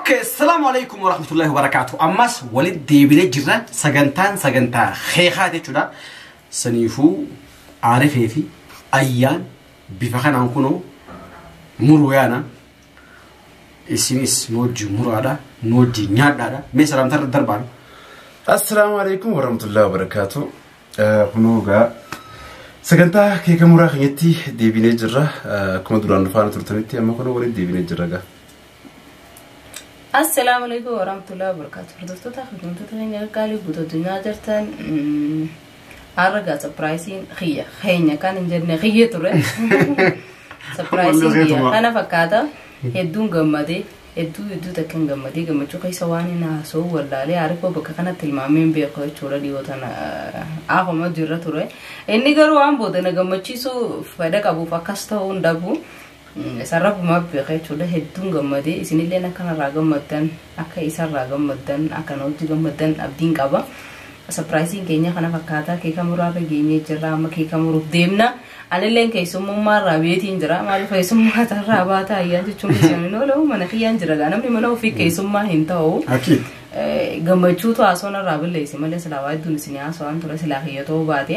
Okay, assalamu alaikum wa rahmatullahi wa barakatuh. Ammas walit deebinee jirra sagantaan sagantaa keekaa jechuudha. Saniifuu aarifee fi ayyaan bifa kanaan kunoo muruu yaana. Isinis nu wajjin muraadha, nu wajjin nyaadhaadha. Mee salaamtaa irra darbaan. Assalaamu alaikum warahmatullahi wabarakaatu. Kunoo egaa sagantaa keeka muraa keenyatti deebinee jirra. Akkuma duraan nu faana turtanitti amma kunoo waliin deebinee jirra egaa. Assalaamu alaikum warahmatullahi wabarakatuh. Hordoftoota kabajamtoota keenya qaqqaalii guutuu addunyaa jirtan har'a gaa sapiraayisiin kiyya keenya kan hin jenne kiyya ture. Sapiraayisiin kiyya kana fakkaata hedduun gammade hedduu hedduu takka hin gammade gammachuu keessa waan hin haasoo wallaalee harikoo bakka kanatti ilmaamee hin beeku jechuudha dhiyoo tana akkuma jirra ture. Inni garuu waan booda na gammachiisuu fedha qabuuf akkas ta'uu hin dhabu. Isa rabbumaaf beeka jechuudha hedduun gammadee isinilleen akka narraa gammaddan akka isarraa gammaddan akka na wajji gammaddan abdiin qaba sapiraayiziin keenya kana fakkaataa keeka muraarra geenyee jirra amma keeka muruuf deemna anilleen keessummummaa irraa beetiin jira maaliif keessummaa tarraa baata ayyaan jechuun keessumin ooluu mana kiyyaan jira gaa namni mana ofii keessummaa hin ta'u Akiid. gammachuutu haasoo narraa balleessi malee silaa waa hedduun isin haasoo waan ture silaa kiyya ta'uu baate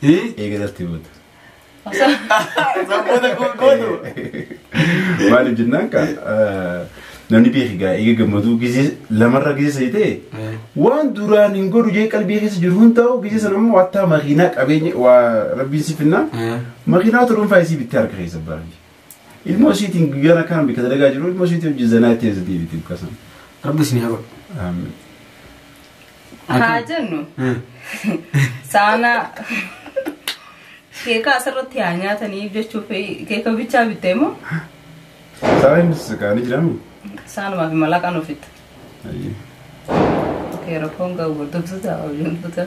Hii? Eega natti himata. Sabboota koo gootu. Maaliif jennaan kaa namni beeki gaa eega gammaduu gizee lamarra gizee sadi ta'e waan duraan hin godhu jee qalbii keessa jiru hin ta'u gizee sana immoo wattaa makiinaa qabeenya waa rabbiin si finnaa makiinaa turuun faayisii bittee harka keessa baranji. Ilmoo isiitiin guyyaan akkaan bika dalagaa jiru ilmoo isiitii hojii zanaa itti eessa deebiti bukkasan. Rabbi isin haa godhu. Haa jennu saana keekaa asirratti haa nyaatanii jechuuf keeka bichaa bittee moo Saana inni sakaanii jiramu. saanumaaf malaqaan ofitti. Ayyee. Keera foon gahu gurgurtu ta'a hojii gurgurtu ta'a.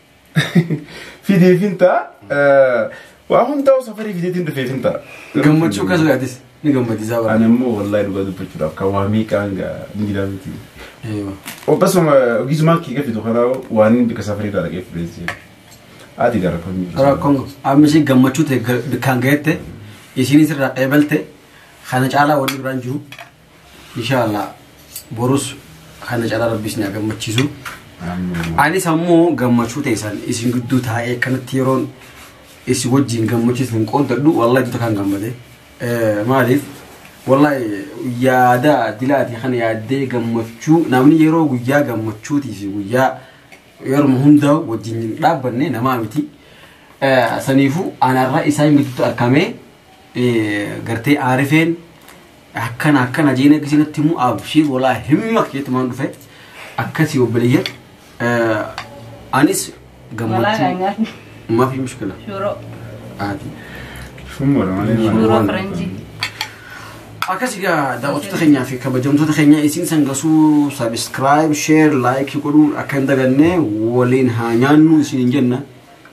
Fidee fintaa waa hundaa'u safarii fideetiin dhufee fintaa. Gammachuu kan laatis ni gammachiisaa Ani barbaada. immoo wallaahi dhugaa dubbachuudhaaf kan waa miiqaan gaa miidhaa miti. Eeyyoo. Obbasuma ogiisumaan kee gafitu kanaa waan inni bika safarii irraa dhaqee fudhee seera. Ati gara kun jiru. Rakkoon amma ishee gammachuu ta'e ga- bikkaan ga'ette isheenis irraa qeebalte kana caalaa wanni biraan jiru Inshallah borus kana cala rabbi isin haa gammachiisu. Anis ammoo gammachuu teessan isin gidduu taa'ee kanatti yeroon isin wajjin gammachiisan qooddadhu wallahi duta kan gammade. Maaliif wallahi yaada dilaati kana yaaddee gammachuu namni yeroo guyyaa gammachuutii fi guyyaa yeruma hundaa wajjin dhaabbanne namaa miti. Saniifuu anarra isaan gidduutti argamee gartee aarifeen akkana akkana jeena gisii natti himu abshiir walaa himma keetumaan dhufe akkasii obboleeyyan anis gammachuu mafi mushkila Shuroo. aati Shummara malee maal? Shuroo Faranjii. akkasii gaa daawwattoota keenyaa fi kabajamtoota keenya isin sangasuu sabiskiraayib sheer laayikii godhuu akka hin daganne waliin haa nyaannu isin hin jenna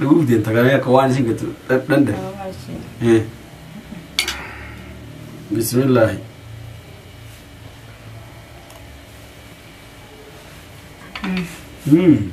Dhuguuf deemta kana akka waan isin gattu dhanda. Bismillaahi. Mm.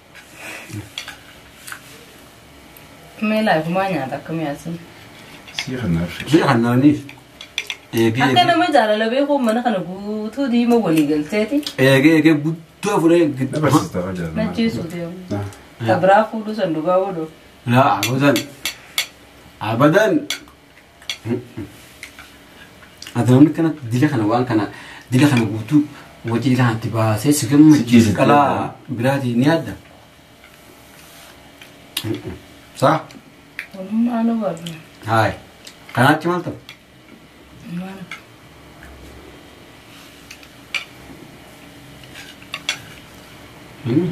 Mee laafumaa nyaata akkamii asin. Sii kanaaf. Jee kan naanniif. Eegee Akka nama jaalala beekuun mana kana guutuu diima walii galteeti. eegee eegee guddoo fudhee Na gidduu. barsiista hojii jaalala. Najjeesuu deemu. Ah. Kabraa fuudhuu san dhugaa godhu. Laa abadan. Abadan. Ati namni kana dila kana waan kana dila kana guutuu wajjin ilaa itti baasee si gammachiisu qalaa biraatiin ni adda. Saa? Walumaa nu barna. Haay. Kanaatti maal ta'u? Maal? Hmm?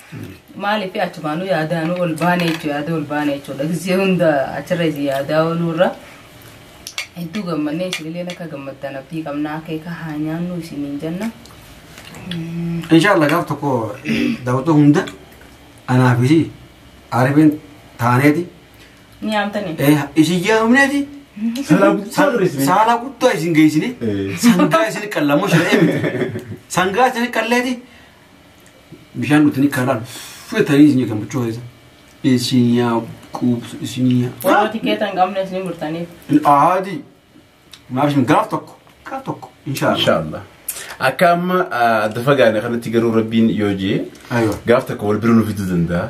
Maaliif achumaanuu yaadaanuu ol baane jechuudha yaada ol baane jechuudha gisee hunda achirra isin yaadaa ooluurra hedduu gammannee isinillee akka gammaddan abdii qabnaa akeeka haa nyaannu isiniin jenna. Inshallah gaaf tokko daawwatoo hunda anaa fi isii arifin taaneeti. Ni yaamtanii? Eh, Isin yaamneeti. Saalaa guddaa dura isin. Saalaa guddaa isin geessine. Eh. Sangaa isin qallamoo shiree miti. Sangaa isin qalleeti. bishaan dhutanii karaan fudhatanii isin eegan buchoo keessa. Isin yaa quubsu isin yaa. Warra tikeeta hin qabnes ni murtaniif. Aadi. Maaf isin gaaf tokko gaaf tokko inshaallah. Inshaallah. Akka amma adda fagaane kanatti garuu rabbiin yoo jee Aywa. gaaf tokko wal bira nu fiduu danda'a.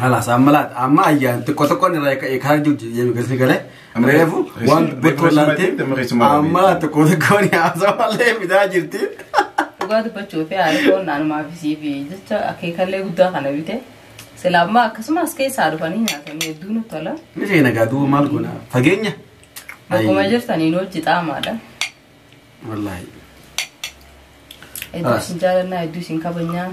Halas amma laata amma ayyaan xiqqoo xiqqoon irraa eeka eekaa jirti jedhee galti galee reefu waan dubbachuu laatti amma xiqqoo xiqqoon haasawaa malee fidaa jirti. Dhugaa dubbachuu fi haadha foon naannumaa fi siif jecha akeekallee guddaa kana bite silaa ammaa akkasumas keessaa dhufanii nyaatanii hedduu nu tola. Ni feena gaaduu maal goona fageenya. Akkuma jirtaniin hojii xaamaadha. Wallaahi. Hedduu Haas. isin jaalannaa hedduu isin kabajnaa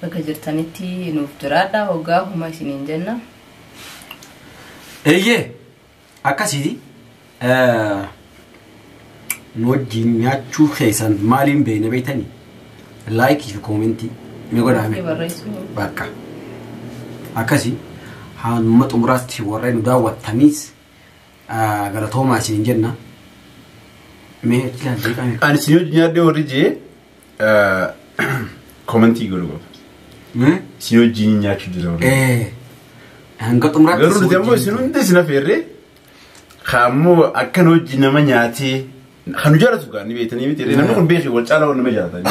bakka jirtanitti nuuf jiraadha hoggaa huma isiniin jenna. Eeyyee akkasii eh, nu wajjin nyaachuu keessan maaliin beekna beektanii? Laayikii fi koomentii ni godhaame. Itti barreessuu. Bakka akkasii hamma xumuraatti warreen nu daawwattaniis galatoomaa isiniin jenna. Mee jeeqaa jeeqaa. Ani si yoo nyaadhee warri jee komentii godhu qaba. Mee? Si yoo jiin nyaachuu jira warri. Eh, Hanga xumuraatti. Garuu nuti ammoo isin hundi isin affeerree kaammoo akkan hojii nama nyaatee kan nu jaalatu gaa ni beektanii miti namni kun beekee wal caalaa wal nama jaalata.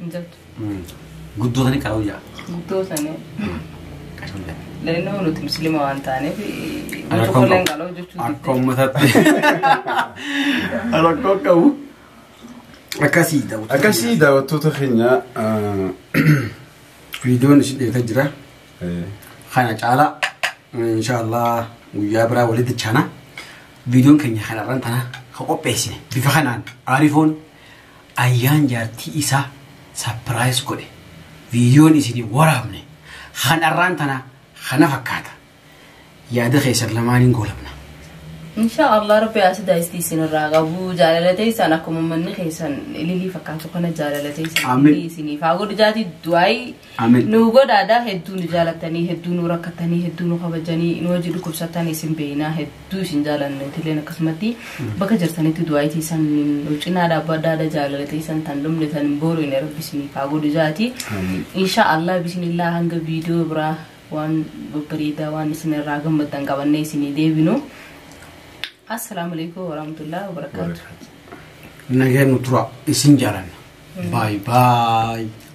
hin jirtu. Guddoo sanii qaroo jaa. Guddoo sanii. Qaroo jaa. Leenoo nuti musliima waan taaneef Rakkoo tokko illee qabu. qaloo jechuun Akka uummataatti. Rakkoo qabu. Akkasii daawwatu. Akkasii daawwattoota keenya Viidiyoon isin eegaa jira. Kana caalaa inshaallah guyyaa biraa walitti chana. Viidiyoon keenya kanarraan tana ka qopheessine bifa kanaan aarifoon Ayyaan jaartii isaa surprise godhe videon isiniif waraabne kan arraan tanaa kana fakkaata. Yaada keessan lamaaniin goolabna. Insha Allah rabbi asida isti isin irraa qabu jaalala teessan akkuma manni keessan ililii fakkaatu kana jaalala teessan Aamin. ililii isiniif haa godhu jaati du'aayi Amen. Nuu godhaadha hedduu nu jaalatanii hedduu nu rakkatanii hedduu nu kabajanii nu hojii dhukkubsatan isin beeynaa hedduu isin jaalanna itilleen akkasumatti bakka jirtanitti du'aa itti isan nu cinaa dhaabbadhaadha jaalala teessan tan dhumne tan hin boorine rabbi isiniif haa godhu jaati. Amen. Insha Allah bismillah hanga viidiyoo biraa waan babbareedaa waan isin irraa gammaddan qabannee isinii deebinu. Assalaamu alaikum warahmatullahi wabarakatuh. Nageen nu tura isin jaalanna. Baay baay.